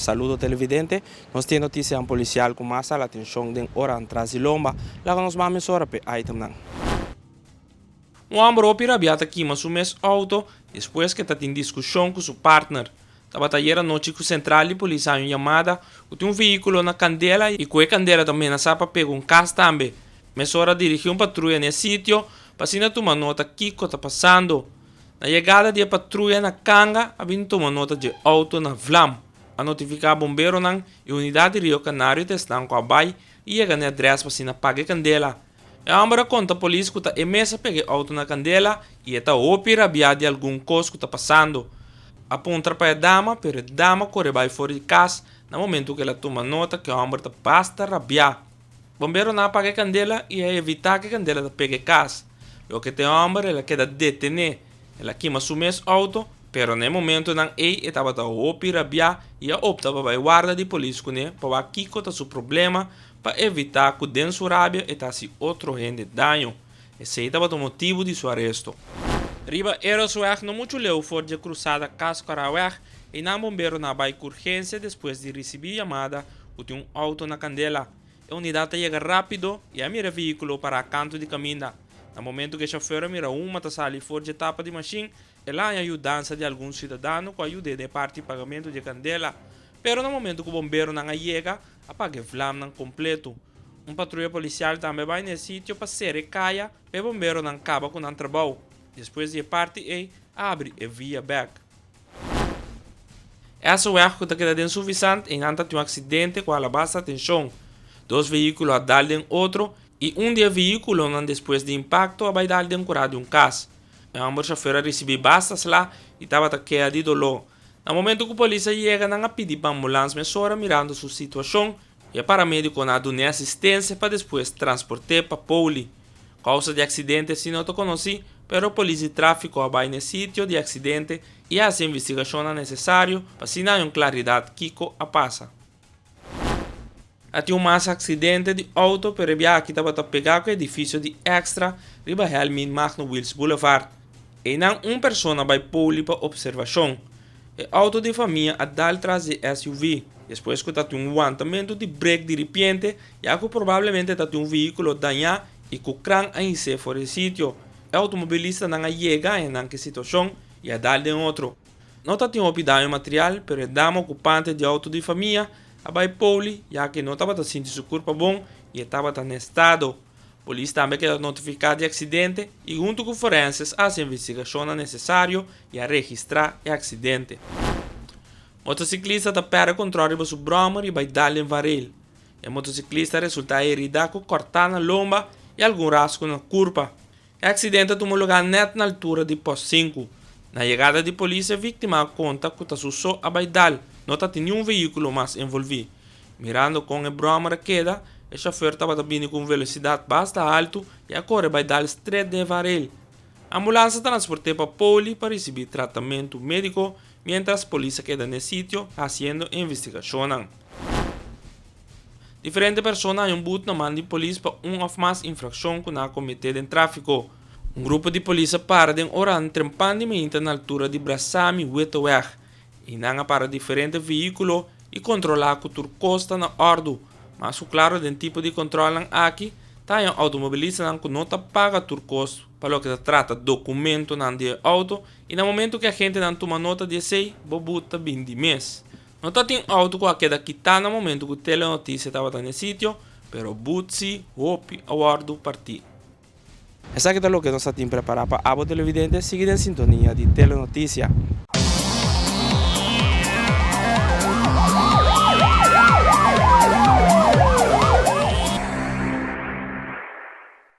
Saludo televidente, nos tin e notisianan policial cu mas hala atencion den oranan tras di lomba. Laga nos mami esora p'e itemnan. Un hòmber hopi rabiá ta kima su mes outo despues ku e ta tin diskushon ku su partner. Tabata ayer anochi ku sentral di polis haña un yamada ku tin un vehíkulo na kandela i ku e kandela ta menasá pa pega un kas tambe. Mesora dirigí un patruya na e sitio pa asina tuma nota kiko ta pasando. Na yegada di e patruya na kanga a bin tuma nota dje outo na Vlam, a notifiká bomberonan i unidat di Rio Kanario ta esnan ku a bai i yega na e adrès pa asina paga e kandela. E homber a conta polis cu ta e mes a pega e auto na candela y e ta hopi rabia di algun cos cu ta pasando. A puntra pa e dama pero e dama core bay for di cas na momento cu el a tuma nota cu e homber ta basta rabia. Bomberonan a paga e candela y a evita cu e candela ta pega e cas. Loke ta e homber el a keda detene. El a kima su mes auto pero na e momentonan ey e tabata hopi rabia y a opta pa bay warda di polis cune pa wak kico ta su problema Pa evitá ku den su rabia e ta hasi otro hende daño, esei tabata un motibu di su aresto. Riba Erosweg no muchu leu for dje krusada Kaskoraweg, eynan bomberonan a bai ku urgensia despues di risibí yamada ku tin un outo na kandela. E unidat a yega rápido i a mira vehíkulo pará kantu di kaminda. Na momentu ku e shofèr a mira humo ta sali for dje tapa di mashin, El a haña yudansa di algun siudadano ku a yuda e den e parti di pagamentu di e kandela, pero na momentu ku bomberonan a yega, a paga e vlamnan kompletu. Un patruya polisial tambe a bai na e sitio pa sera e kaya pa e bomberonan kaba ku nan trabou. Despues di e parti ei, a abri e via bèk. E aseweg ku ta keda den Suvisant, einan ta tin un aksidente ku a alabá sa atenshon. Dos vehíkulo a dal den otro, i un di e vehíkulonan despues di impakto a bai dal den kurá di un kas. E homber shofer a ricibi basta sla y tabata kea di dolor. Na momento cu polis a yega nan a pidi pa ambulance mesora mirando su situacion y e paramediconan a dun'e asistencia pa despues transporte pa Pouli. Causa di accidente asino ta conoci pero polis di trafico a bay n'e sitio di accidente y a haci e investigacionnan necesario pa asina hay un claridad kico a pasa. A tin un mas aksidente di outo pero e biahaki tabata pegá ku e edifisio di Extra riba Helmin Magno Wils Boulevard. Einan un persona bai pouli pa opservashon. E outo di e famia a dal tras di e SUV, despues ku ta tin un wantamentu di brek di ripiente ya ku probablemente ta tin un vehíkulo dañá i ku kran a hisé for di e sitio. E outomobilistanan a yega henanke situashon i a dal den otro. No ta tin hopi daño material, pero e dama okupante di outo di famia a bai pouli ya ku e no tabata sinti su kurpa bon i e tabata na e stado. Polis tambe a keda notifiká di e aksidente i huntu ku forenses a hasi e investigashonnan nesesario i a registrá e aksidente. Motosiklista ta pèrdè kontròl riba su bròmer i bai dal den vanrail. E motosiklista a resultá eridá ku kòrtá na lomba i algun rasku na kurpa. E aksidente a tuma lugá nèt na altura di pos sinku. Na yegada di polis e víktima a konta ku ta su so a bai dal, no tatin niun veíkulo mas envolví. Mirando kon e bròmer a keda, e shofèr tabata bini ku un velosidat basta altu i a kore bai dal stret den varel. Ambulansa a transport'é pa Poli pa risibí tratamentu médiko miéntras polis a keda n'e sitio hasiendo e investigashonnan. Diferente persona a haña un but na man di polis pa un òf mas infrakshon ku nan a kometé den tráfiko. Un grupo di polis a para den Oran trempan di mainta na altura di Brasami Weteweg i nan a para diferente vehíkulo i kontrolá ku tur kos ta na òrdu. Mas ku klaro den tipo di kontròlnan aki ta haña outomobilistanan ku no ta paga tur kos pa loke ta trata dokumentonan di e outo i na momentu ku e agentenan tuma nota di esei bo but ta bin di mes. No tatin auto cu a keda kitá na momento cu Telenoticia tabata n'e sitio, pero butsi hopi a wordo partí. Esaki ta loke nos tatin prepará pa abo televidente, sigui den sintonia di Telenoticia.